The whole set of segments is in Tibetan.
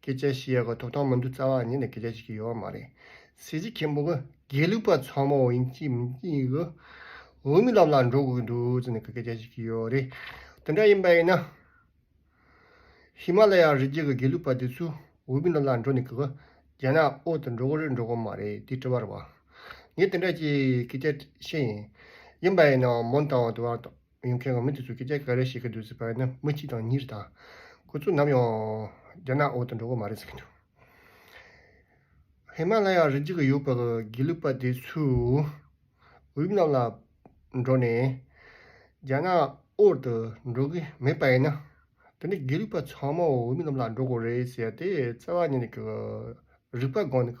སྐད་ཆ་བཤད་ཡག་གི་ཐོབ་ཐང་མི་འདུག་རྩ་བ་ཉིད་ནས་སྐད་ཆ་བཤད་ཀྱི་ཡོད་པ་མ་རེད། སེ་ཆི་མཁན་པོ་གི་དགེ་ལུགས་པ་ཚང་མ་འོན་གྱི་མི་གཅིག་གིས་འོས་མི་རྣམས་ལ་འགྲོ་དགོས་ཀྱི་འདུག་ཟེར་ནས་སྐད་ཆ་བཤད་ཀྱི་ཡོད་རེད། དེ་འདྲ་ཡིན་པ་ཡིན་ན། ཧི་མ་ལ་ཡ་རི་རྒྱལ་གྱི་དགེ་ལུགས་པ་དེ་ཚོས་འོས་མི་རྣམས་ལ་འགྲོ་ནས་ཀྱི་གི་རྒྱ་ནག་ཨོ་དང་འགྲོ་གི་རེད་འགྲོ་གི་མ་རེད་དེ་དྲི་བ་རེད་བ། ངས་དེ་འདྲ་ཀྱི་སྐད་ཆ་བཤད་ཡིན། ཡིན་པ་ཡིན་ན་མོ་འདང་བ་དུ་བ་དང། ཡོང་མཁན་ངོ་མི་དེ་ཚོ་སྐད་ཆ་ག་རེ་བཤད་ཀྱི་འདུག་ཟེར་བ་ནི་མི་གཅིག་དང་གཉིས་རེ་དང། ཁོ་ཚོ་ནམ་ཡང་རྒྱ་ནག་འོག་ཏུ་འགྲོ་གི་མ་རེད་ཟེར་གྱི་འདུག། ཧི་མ་ལ་ཡ་རི་རྒྱུད་ཀྱི་ཡོད་པའི་དགེ་ལུགས་པ་དེ་ཚོས་བོད་རིགས་རྣམས་ལ་འགྲོ་ནས་རྒྱ་ནག་འོག་ཏུ་འགྲོ་གི་མེད་པ་ཡིན་ན། དེ་ནི་དགེ་ལུགས་པ་ཚང་མ་བོད་མི་རྣམས་ལ་འགྲོ་དགོས་རེད་ཟེར་ཏེ་རྩ་བ་ཉིད་ནས་རིག་པ་སྒང་ནས་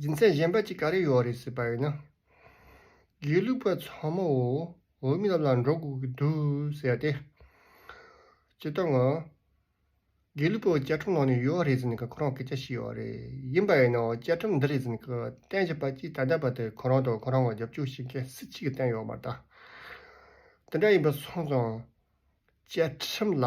རྒྱུ་མཚན་གཞན་པ་ཅིག་ག་རེ་ཡོད་རེད་ཟེར་པ་ཡིན་ན། དགེ་ལུགས་པ་ཚང་མ་འོས་མི་རྣམས་ལ་འགྲོ་དགོས་ཀྱི་འདུག་ཟེར་ཏེ། ཇི་ལྟར་འང། དགེ་ལུགས་པའི་བཅའ་ཁྲིམས་ནང་ནས་ཡོད་རེད་ཟེར་ནས་ཁོ་རང་གི་བཅའ་ཞིག་ཡོད་རེད། ཡིན་པ་ཡིན་ན་འང་བཅའ་ཁྲིམས་འདི་རེད་ཟེར་ནས་གཏན་ཆགས་པ་ཅིག་ད་ལྟ་བར་དུ་ཁོ་རང་དང་ཁོ་རང་འང་རྒྱབ་སྐྱོར་བྱེད་མཁན་སུ་གཅིག་གིས་བསྟན་ཡོད་མ་རེད་ད། དེ་འདྲ་ཡིན་པ་སོང་ཙང། བཅའ་ཁྲིམས་ལ།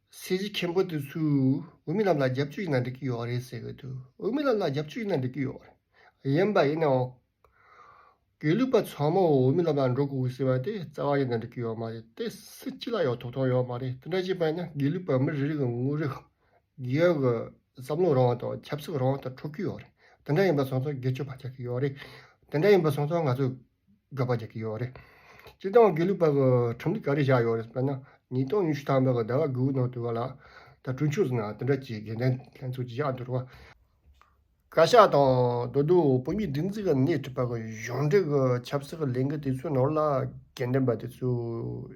སྲས་བཞི་མཁན་པོ་དེ་ཚོས་འོས་མི་རྣམས་ལ་རྒྱབ་སྐྱོར་ཡིན་ན་འགྲིག་གི་ཡོད་རེད་ཟེར་གི་འདུག་འོས་མི་རྣམས་ལ་རྒྱབ་སྐྱོར་ཡིན་ན་འགྲིག་གི་ཡོད་རེད། ཡིན་པ་ཡིན་ན་འོ་ག། དགེ་ལུགས་པ་ཚང་མ་འོས་མི་རྣམས་ལ་འགྲོ་དགོས་ཟེར་བ་དེ་རྩ་བ་ཡིན་ན་འགྲིག་གི་ཡོད་མ་རེད་དེ། སྲིད་སྤྱི་ལ་ཡང་ཐོབ་ཐང་ཡོད་མ་རེད་དེ་འདྲ་བྱས་པ་ཡིན་ན་དགེ་ལུགས་པ་མི་རེ་རེ་གི་དངོས་རིགས། རྒྱའི་གི་བསམ་བློ་རང་དང་ཆབ་སྲིད་རང་དང་འཁྲུག་གི་ཡོད་རེད་དེ་འདྲ་ཡིན་པ་སོང་ཙང་དགེ་སྐྱོར་བ་རྒྱག་གི་ཡོད་རེད་དེ་འདྲ་ཡིན་པ་སོང་ཙང་ང་ཚོས། དགག་པ་རྒྱག་གི་ཡོད་རེད། སྤྱིར་བཏང་དགེ་ལུགས་པ་གི་ཁྲིམས་སྒྲིག་ག་རེ་བཞག་ཡོད་རེད་ཟེར་ན། ཉིས་སྟོང་ཉི་ཤུ་ཐམ་པའི་ཟླ་བ་དགུ་བོའི་ནང་དུ་བ་ལ་ད་གྲོས་ཆོད་ཟིན་ན་དེ་འདྲ་གྱི་དགེ་ལྡན་ལྷན་ཚོགས་ཀྱི་ཤག་འདུར་བ། བཀའ་ཤག་དང་དོ་བདུན་འོག་བོད་མིའི་སྒྲིག་འཛུགས་ཀྱི་སྣེ་ཁྲིད་པ་གི་གཞུང་འབྲེལ་གྱི་ཆབ་སྲིད་ཀྱི་ལས་འགུལ་དེ་ཚོའི་ནང་ལ་དགེ་ལྡན་པ་དེ་ཚོས།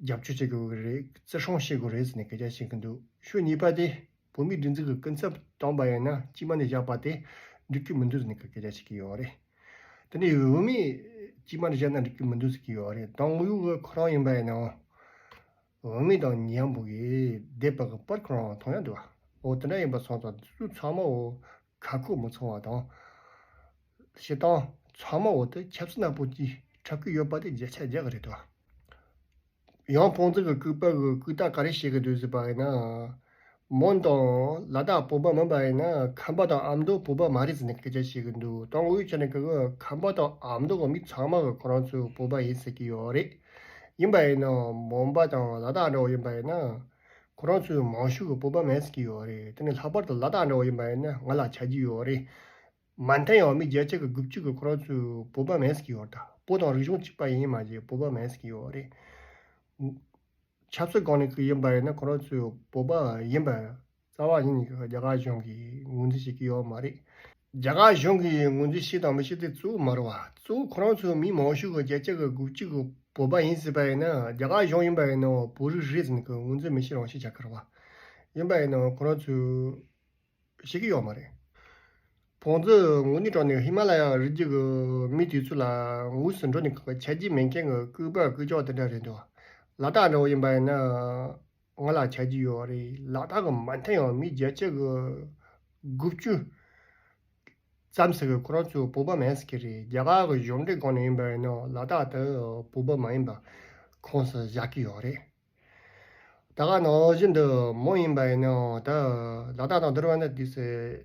རྒྱབ་སྐྱོར་བྱེད་དགོས་ཀྱི་རེད་བརྩི་སྲུང་བྱེད་དགོས་རེད་ཟེར་ནས་སྐད་ཆ་བཤད་ཀྱི་འདུག་ཤོས་གཉིས་པ་དེ་བོད་མིའི་སྒྲིག་འཛུགས་ཀྱི་སྐུ་ཚབ་དྲངས་པ་ཡིན་ན་དཀྱུས་མ་འདི་བཞག་པ་དེ་འགྲིག་གི་མི་འདུག་ཟེར་ནས་སྐད་ཆ་བཤད་ཀྱི་ཡོད་རེད། དེ་ནས་བོད་མིས་དཀྱུས་མ་འདི་བཞག་ན་འགྲིག་གི་མི་འདུག་ཟེར་གྱི་ཡོད་རེད་ད་ངོ་ཡུག་གི་ཁོ་རང་ཡིན་པ་ཡིན་ནའང་བོད་མི་དང་ཉི་ཡམ་བུ་གིས་བསྡད་པ་གི་པར་ཁོ་རང་ལ་མཐོང་ཡག་འདུག་ཨོ་དེ་འདྲ་ཡིན་པ་སོང་ཙང་དེ་ཚོའི་ཚང་མ་འོ་ཁ་ཁུག་མི་འཚོང་བ་དང། ཞེ་སྡང། ཚང་མ་འོག་ཏུ་ཆབ་སྲིད་ནག་པོ་ཀྱིས་ཁྲབ་གི་ཡོད་པ་དེ་བརྗེད་ཆགས་རྒྱག་གི་རེད་དོ། ཡང་དཔོང་ཚིག་གི་སྐུད་པ་གི་སྐུད་རྟགས་ག་རེ་བཤད་གི་འདུག་ཟེར་པ་ཡིན་ན། མོ་དང། ལ་དྭགས་བོད་པ་མིན་པ་ཡིན་ན་ཁམས་པ་དང་ཨ་མདོ་བོད་པ་མ་རེད་ཟེར་ནས་སྐད་ཆ་བཤད་གི་འདུག་ཏང་ཨུའི་ཆ་ནས་ཁག་གི་ཁམས་པ་དང་ཨ་མདོ་གི་མི་ཚང་མ་གི་ཁོ་རང་ཚོ་བོད་པ་ཡིན་ཟེར་གི་ཡོད་རེད། ཡིན་པ་ཡིན་ན་མོ་འབའ་དང་ལ་དྭགས་འདྲ་བོ་ཡིན་པ་ཡིན་ན། ཁོ་རང་ཚོའི་མང་ཤོས་ཀྱི་སྤོབས་པ་མེད་ཀྱི་ཡོད་རེད་དེ་ནི་ལྷག་པར་དུ་ལ་དྭགས་འདྲ་བ་ཡིན་པ་ཡིན་ན་ང་ལ་ཆགས་ཀྱི་ཡོད་རེད། མ་མཐའ་ཡང་མི་བརྒྱད་ཅག་གི་དགུ་བཅུ་གིས་ཁོ་རང་ཚོའི་སྤོབས་པ་མེད་ཀྱི་ཡོད་རེད་ད། བོད་དང་རིག་གཞུང་གཅིག་པ་ཡིན་མ་བརྗེད་སྤོབས་པ་མེད་ཀྱི་ཡོད་རེད། ཆབ་སྲིད་གང་ནས་ཀྱི་ཡིན་པ་ཡིན་ན་ཁོ་རང་ཚོའི་སྤོབས་པ་ཡིན་པ་རྩ་བ་ཉིད་ནས་རྒྱ་གར་གཞུང་གིས་ངོས་འཛིན་བྱེད་ཀྱི་ཡོད་མ་རེད། རྒྱ་གར་གཞུང་གིས་ངོས་འཛིན་ཤེས་དང་མི་ཤེས་དེ་གཙོ་བོ་མ་རེད་བ། གཙོ་བོ་ཁོ་རང་ཚོའི་མི་མང་ཤོས་ཀྱི་བརྒྱད་ཅུ་གྱི་དགུ་གཅིག་གི་བོད་པ་ཡིན་སྲིད་པ་ཡིན་ན་རྒྱ་གར་གཞུང་ཡིན་པ་ཡིན་ནའོ་བོད་རིགས་རེད་ཟིན་གྱི་ངོས་འཛིན་མི་ཤེས་རང་ཤེས་བྱ་གི་རེད་བ། ཡིན་པ་ཡིན་ན་ཁོ་རང་ཚོས་ཤེས་ཀྱི་ཡོད་མ་རེད། བོང་ཚོས་ངུ་ནས་དྲག་ནས་ཧི་མ་ལ་ཡ་རི་རྒྱུད་ཀྱི་མི་དེ་ཚོ་ལ་ངུ་ཟིན་འགྲོ་ནས་ཁག་ཁག་ཆད་རྒྱུ་མེད་མཁན་གྱི་སྐུད་པ་སྐུད་ལྕོག་དེ་འདྲ་རེད་འདོད་བ། ལ་དྭགས་འདྲ་བོ་ཡིན་པ་ཡིན་ན། ང་ལ་ཆ་རྒྱུས་ཡོད་རེད་ལག་རྟགས་ཀྱི་མ་མཐའ་ཡང་མི་བརྒྱད་ཅུ་གི་དགུ་བཅུ་ཙམ་ཟེར་བའི་ཁོ་རང་ཚོའི་བོད་པ་མེན་སྐེ་རེད་རྒྱ་གར་གྱི་གཞུང་འབྲེལ་སྒང་ནས་ཡིན་པ་ཡིན་ན་ལག་རྟགས་དེ་བོད་པ་མ་ཡིན་པ་ཁོངས་སུ་བཞག་གི་ཡོད་རེད། ད་ག་ནང་བཞིན་དུ་མོ་ཡིན་པ་ཡིན་ན་ད་ལག་རྟགས་དང་བསྡུར་བ་ན་དེ་སྲིད།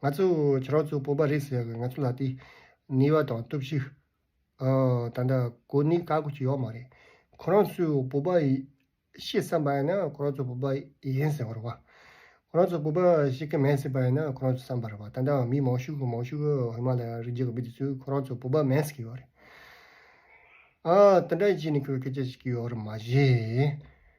ང་ཚོ་ཁྱེད་རང་ཚོ་སྤོབས་པ་རེད་ཟེར་ཡག་ང་ཚོ་ལ་དེ་ནུས་བ་དང་སྟོབས་ཤུགས་ད་ལྟ་གོ་ནི་བཀའ་བཀོད་ཅིག་ཡོག་མ་རེད་ཁོ་རང་ཚོས་སྤོབས་པ་ཤེས་བསམ་པ་ཡིན་ན་ཁོ་རང་ཚོ་སྤོབས་པ་ཡིན་ཟེར་བ་རེད་བ་ཁོ་རང་ཚོ་སྤོབས་པ་ཤེས་ཀྱི་མེད་ཟེར་པ་ཡིན་ན་ཁོ་རང་ཚོ་བསམ་པ་རེད་བ་ད་ལྟའང་མི་མང་ཤུགས་མང་ཤུགས་ཧི་མ་ལ་ཡ་རིགས་རྒྱ་གི་མི་དེ་ཚོས་ཁོ་རང་ཚོ་སྤོབས་པ་མེད་ཟེར་གྱི་ཡོག་རེད་ཨ། དེ་འདྲ་བྱས་ནས་ཁྱོད་སྐད་ཆ་བཤད་ཀྱི་ཡོག་རེད་མ་གཞི།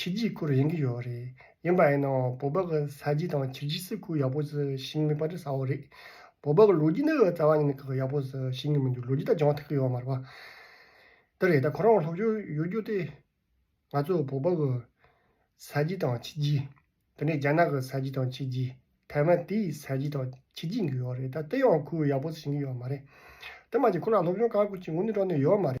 ཕྱི་རྒྱུད་སྐོར་ཡིན་གྱི་ཡོད་རེད་ཡིན་པ་ཡིན་ནའང་བོད་པ་གི་ས་རྒྱུད་དང་ཕྱི་རྒྱུད་སི་ཁུལ་ཡག་པོ་ཟི་ཞིང་མེད་པ་འདི་ས་འོག་རེད་བོད་པ་གི་ལོ་རྒྱུད་འདི་གི་རྩ་བ་ཉིད་ནས་ཡག་པོ་ཟི་ཞིང་གི་མི་འདུག་ལོ་རྒྱུད་དང་སྦྱང་ཐུབ་ཀྱི་ཡོད་མ་རེད་པ་འདི་རེད་ད་ཁོ་རང་ལྷོ་ཕྱོགས་ཡོད་རྒྱུ་དེ་ང་ཚོ་བོད་པ་གི་ས་རྒྱུད་དང་ཕྱི་རྒྱུད་དེ་ནས་རྒྱ་ནག་གི་ས་རྒྱུད་དང་ཕྱི་རྒྱུད་ཐའི་ཝན་དེའི་ས་རྒྱུད་དང་ཕྱི་རྒྱུད་ཡིན་གྱི་ཡོད་རེད་ད་དེ་ཡང་ཁུལ་ཡག་པོ་ཟི་ཞིང་གི་ཡོད་མ་རེད་དེ་མ་གཅིག་ཁོ་ལ་སློབ་སྦྱོང་ག་གུ་ཅི་ངོ་ནས་གྲོགས་ནས་ཡོད་མ་རེད།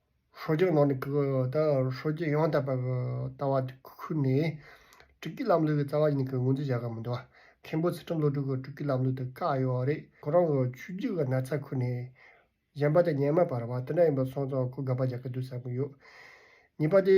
ཧྲོ་ཅོག་ནང་ནས་ཧྲོ་ཅོག་ཡང་དག་པའི་ལྟ་བ་དེ་ཁུར་ནས། དྲུག་གི་ལམ་ལུགས་ཀྱི་རྩ་བ་གཉིས་ཀྱི་ངོས་འཛིན་བྱ་ག་མི་འདུག་བ། མཁན་པོ་ཚེ་ཁྲིམས་བློ་གྲོས་ཀྱི་དྲུག་གི་ལམ་ལུགས་དེ་བཀག་ཡོད་བ་རེད། ཁོ་རང་གི་ཆོས་བརྒྱུད་ཀྱི་ན་ཚ་ཁུར་ནས། གཞན་པ་དང་གཉེན་མ་བར་བ་དེ་འདྲ་ཡིན་པ་སོང་ཙང་ཁོ་དགའ་བ་རྒྱག་གི་འདུག་བསམ་གྱི་ཡོད། གཉིས་པ་དེ།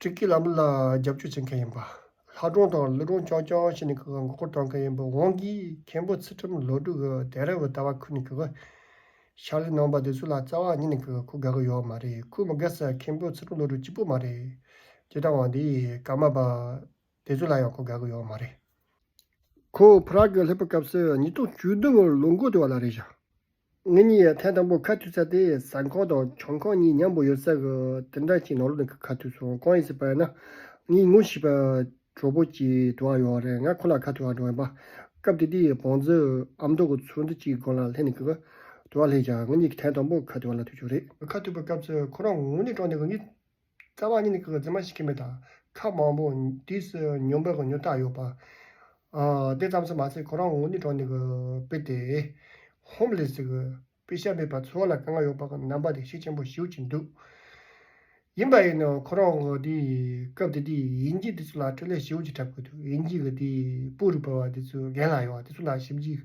བཀྲིས་ཀྱི་ལམ་ལ་རྒྱབ་སྐྱོར་བྱེད་མཁན་ཡིན་པ། ལྷ་སྒྲུང་དང་ཀླུ་སྒྲུང་རྐྱང་རྐྱང་ཞིག་ནས་མགོ་སྐོར་གཏོང་མཁན་ཡིན་པའི་དབང་གིས་མཁན་པོ་ཚེ་ཁྲིམས་ལོ་དྲུག་གི་དད་རེ་བའི་ལྟ་བ་ཁུར་ནས་ཤར་ལི་ནང་པ་དེ་ཚོ་ལ་རྩ་བ་ཉིད་ནས་ཁུར་དགའ་གི་ཡོད་མ་རེད་ཁུར་མི་དགའ་ས་མཁན་པོ་ཚེ་ཁྲིམས་ལོ་དྲུག་གཅིག་པོ་མ་རེད་ཅེས་དྲ་བ་འདིའི་སྐར་མ་པ་དེ་ཚོ་ལ་ཡང་ཁུར་དགའ་གི་ཡོད་མ་རེད། ཁོས་བྷ་རག་གི་ལྷས་པོ་སྐབས་སུ་ཉིས་སྟོང་བཅུ་བདུན་ལོར་ལོ་འགོ་བཏོན་བ་ལ་རེ་བཞག། ངེད་གཉིས་ཡང་ཐེངས་དང་པོར་ཁ་མཐུད་ས་དེ་ཟ་ཁང་དང་བྱང་ཁང་གཉིས་མཉམ་པོ་ཡོད་ས་གི་དེ་འདྲ་ཞིག་ནང་ལོགས་ནས་ཁ་མཐུད་སོང་གང་ཡིན་ཟེར་པ་ཡིན་ན། ངའི་ངོ་ཤེས་པའི་གྲོགས་པོ་གཅིག་དུ་འང་ཡོད་རེད་ང་ཁོ་ལ་ཁ་མཐུད་འང་འགྲོ་འོས་པ། སྐབས་དེ་དུས་བང་མཛོད་ཨ་མདོ་གི་ཚོགས་འདུ་གཅིག་སྒང་ལ་ལྷན་ནས་ཁུ་དུ་བ་ལྷས་ཀྱང་ངེད་གཉིས་ཀྱི་ཐེངས་དང་པོ་ཁ་མཐུད་བ་ལ་ཐུག་བྱུང་རེད། ཁ་མཐུད་པའི་སྐབས་སུ་ཁོ་རང་ངུ་ནས་ཀྲང་ནེ་གོ་ངེད། རྩ་བ་གཉིས་ནི་ཁག་རྫི་མ་ཞིག་གི་མི་དང། ཁག་མང་པོ་དུས་སུ་ཉུང་པོའི་སྒོ་ཉུང་དག་ཡོད་པ། དེ་ཙམ་སུ་མ་ཟད་ཁོ་རང་ངོ་ནི་གྲོང་ནས་གི་པི་ཏེ། Home ལས་སུ་གི་པི་ཤ་མེད་པར་འཚོ་བ་ལ་དཀའ་ངལ་ཡོད་པ་གི་རྣམ་པ་དེ་ཤུགས་ཆེན་པོ་ཞིག་ཅིག་འདུག་ཡིན་པ་ཡིན་ནའང་ཁོ་རང་གི་དེའི་སྐབས་དེ་དུས་དབྱིན་ཇི་དེ་ཚོ་ལ་འཕྲོད་ལས་ཞིག་ཅིག་འཁྲབ་དགོས་འདུག་དབྱིན་ཇི་གི་དེའི་པུའུ་རུ་པ་བ་དེ་ཚོའི་རྒན་ལགས་ཡོད་བ་དེ་ཚོ་ལ་ཞིབ་འཇིགས་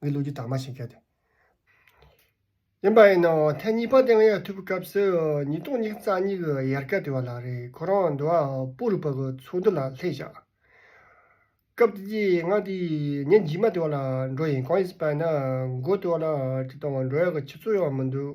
མི་བསླུ་རྒྱུ་དག་མ་བྱེད་གལ། ཡིན་པ་ཡིན་ནའང་ཐེངས་གཉིས་པ་སྟེང་ཡར་ཐུག་པའི་སྐབས་སུ་ཉིས་སྟོང་ཉིས་རྩ་གཉིས་ཀྱི་ཡར་སྐལ་དེ་བ་ལགས་རེད་ཁོ་རང་འགྲོ་བ་སྤོ་རུ་བབས་པའི་ཚོགས་འདུ་ལ་ལྷས་བཞག་སྐབས་དེ་རྗེས་ང་དེ་ཉིན་རྗེས་མ་དེ་བ་ལ་འགྲོ་ཡིན་གང་ཡིན་སྲིད་པ་ཡིན་ན་མགོ་དེ་བ་ལགས་ཀྱིས་བཏང་བ་འགྲོ་ཡག་གི་ཆུ་ཚོད་ཡང་མི་འདུག།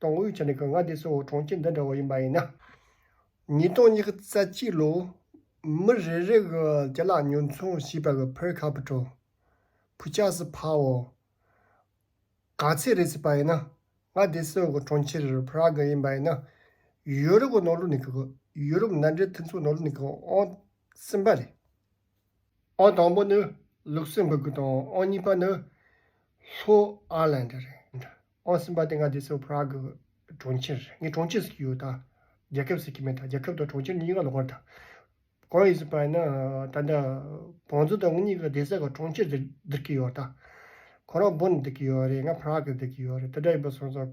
ཏང་ཨུའི་ཆ་ནས་ག་ང་སྡེ་གཙོ་བོ་གྲོང་ཁྱེར་འདི་འདྲ་བ་ཡིན་པ་ཡིན་ན། ཉིས་སྟོང་ཉིས་བརྩ་གཅིག་ལོ། མི་རེ་རེ་གི་སྐྱེ་ལག་ཉོ་འཚོང་བྱིས་པ་གི་ཕོའི་ཁ་ཕུ་ཁྲོ། བུ་ཆགས་སུ་ཕའོ། ག་ཚེ་རེ་ཚེ་པ་ཡིན་ན། ང་སྡེ་གཙོ་བོ་གྲོང་ཁྱེར་བྷར་གི་ཡིན་པ་ཡིན་ན། ཡུ་རོབ་གི་ནོར་ལུག་ནི་གི་གོ། ཡུ་རོབ་མནའ་འབྲེལ་མཐུན་ཚོགས་ནོར་ལུག་ནི་གི་ཨོང། སིམ་པ་རེད། ཨང་དང་པོ་ནི་ལུག་སེམས་བུ་དགུ་དང་ཨང་གཉིས་པ་ནི་ལྷོ་ཨ་ལན་དྲ་རེད། ཨང་གསུམ་པ་དེ་སྔ་དེ་སུ་བྷ་རག་གི་གྲོང་ཁྱེར་རེད་ངས་གྲོང་ཁྱེར་ཟེར་གྱི་ཡོད་ད། རྒྱལ་ཁབ་ཟེར་གྱི་མེད་ད་རྒྱལ་ཁབ་དང་གྲོང་ཁྱེར་གཉིས་ཀ་ལོག་པར་གདའ། གང་ཡིན་ཟེར་པ་ཡིན་ན་ད་ལྟ་བང་མཛོད་དང་གཉིས་ཀ་སྡེ་སྲིད་ཀྱི་གྲོང་ཁྱེར་དེར་སྡོད་ཀྱི་ཡོད་ད། ཁོ་རང་སྦོ་ནས་སྡོད་ཀྱི་ཡོད་རེད་ང་བྷ་རག་གི་སྡོད་ཀྱི་ཡོད་རེད་དེ་འདྲ་ཡིན་པ་སོང་ཙང་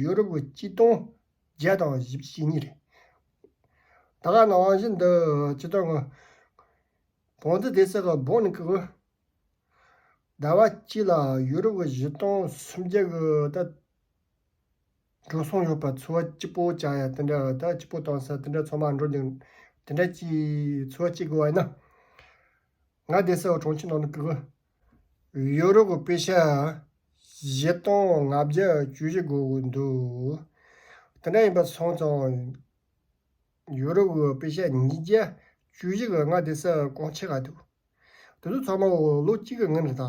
ཡོ་རོབ་སྤྱི་སྟོང་བརྒྱད་དང་བཞི་བཅུ་གཉིས་རེད། ད་ག་ནང་བཞིན་དུ་ཇི་ལྟར་འང། བོང་རྫི་དེ་སྲིད་ཀྱི་བོང་ནི་ཀུ། ཟླ་བ་གཅིག་ལ་ཡོ་རོབ་བཞི་སྟོང་སུམ་བརྒྱ་གི་ད། འགྲོ་སོང་ཡོད་པ་ཚོ་སྐྱིད་པོ་བྱ་ཡ་དེ་འདྲ་ད་སྐྱིད་པོ་གཏོང་ས་དེ་འདྲ་ཚོ་མ་འགྲོ་འདུག་དེ་འདྲ་གྱིས་ཚོ་སྐྱིད་དགོས་བ་ཡིན་ན། ང་དེ་སྲིད་གྲོང་ཁྱེར་ནང་དུ་ཀུ། ཡོ་རོབ་ཀྱི་དཔེ་ཆ་བཞི་སྟོང་ལྔ་བརྒྱ་ཅུ་བཞི་དགོས་ཀྱི་འདུག་དེ་འདྲ་ཡིན་པ་ཚང་ཚང་ཡོ་རོབ་ཀྱི་དཔེ་ཆ་ཉིས་བརྒྱ་ཅུ་བཞི་གི་ལྔ་དེ་སར་བསྐོང་ཆེ་ག་འདུག་དེ་ཚོ་ཚང་མ་ལོ་གཅིག་གི་ངང་རེད་ད་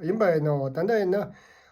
ཡིན་པ་ཡིན་ནའང་ད་འདྲ་ཡིན་ན་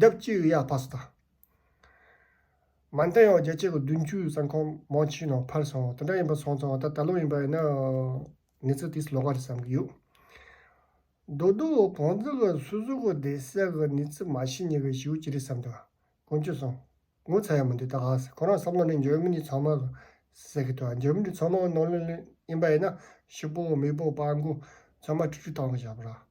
ལྡབ་གཅིག་གཡག་ཕག་སོ་དང། མ་མཐའ་ཡང་བརྒྱད་བཅས་ཀྱི་བདུན་བཅུའི་གཙང་ཁང་མང་ཆེ་བའི་ནང་ཕར་སོང་དེ་འདྲ་ཡིན་པ་སོང་ཙང་ད་ད་ལོ་ཡིན་པ་ཡིན་ན་ནི་ཚོད་དུས་སུ་ལོག་ག་རེད་བསམ་གྱི་ཡོད། རྡོ་རྡོ་བོ་བང་རྫི་ག་སུ་སུ་གོ་བདེ་གསལ་གི་ནི་ཚོད་མ་ཤེས་ཉེ་གི་ཞིའུ་ཅི་རེད་བསམ་དུ་ཀུན་སྤྱོད་སོང་ངོ་ཚ་ཡ་མི་འདུག་ད་ག་ཟེ་ཁོ་རང་བསམ་བློ་ནི་འཇར་མི་ནི་ཚང་མ་གི་ཟེར་གི་འདུག་འཇར་མི་ནི་ཚང་མ་གི་ནང་ལོན་ལོན་ཡིན་པ་ཡིན་ན་ཞི་པོ་མི་པོ་དཔའ་མགོ་ཚང་མ་ཁྲི་ཁྲི་ཐང་གི་བཞག་པ་ར།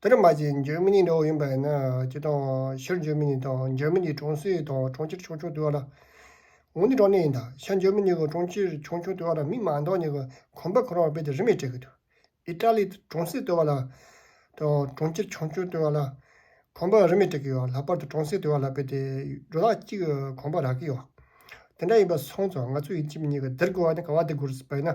དེ་རུ་མ་བྱས་འཇོན་མི་ཉིད་འདྲ་བོ་ཡིན་པས་ན་ཅི་དང། ཕྱིར་འཇོན་མི་ཉིད་དང་འཇོན་མི་ཉིད་གྲོང་གསེབ་དང་གྲོང་ཁྱེར་ཆུང་ཆུང་དུ་བ་ལ་འོང་ནི་གྲོང་གནས་ཡིན་ད་ཤ་འཇོན་མི་ཉིད་ཀྱི་གྲོང་ཁྱེར་ཆུང་ཆུང་དུ་བ་ལ་མི་མ་འདང་ཉིད་ཀྱི་གོམ་པ་ཁོ་རང་རྦད་དེ་རི་མེད་བྲེག་གི་འདུག་ཨི་ཏྲ་ལི་གྲོང་གསེབ་དུ་བ་ལ་དང་གྲོང་ཁྱེར་ཆུང་ཆུང་དུ་བ་ལ་གོམ་པ་རི་མེད་བྲེག་གི་ཡོད་ལྷག་པར་དུ་གྲོང་གསེབ་དུ་བ་ལ་རྦད་དེ་འབྲུ་ལག་གཅིག་གི་གོམ་པ་རག་གི་ཡོད་དེ་འདྲ་ཡིན་པ་སོང་ཙང་ང་ཚོ་ཡིན་གཅིག་མི་གཉིས་ཀྱིས་འདིར་བསྐུར་བ་ནི་ག་བ་འདི་བསྐུར་བས་ན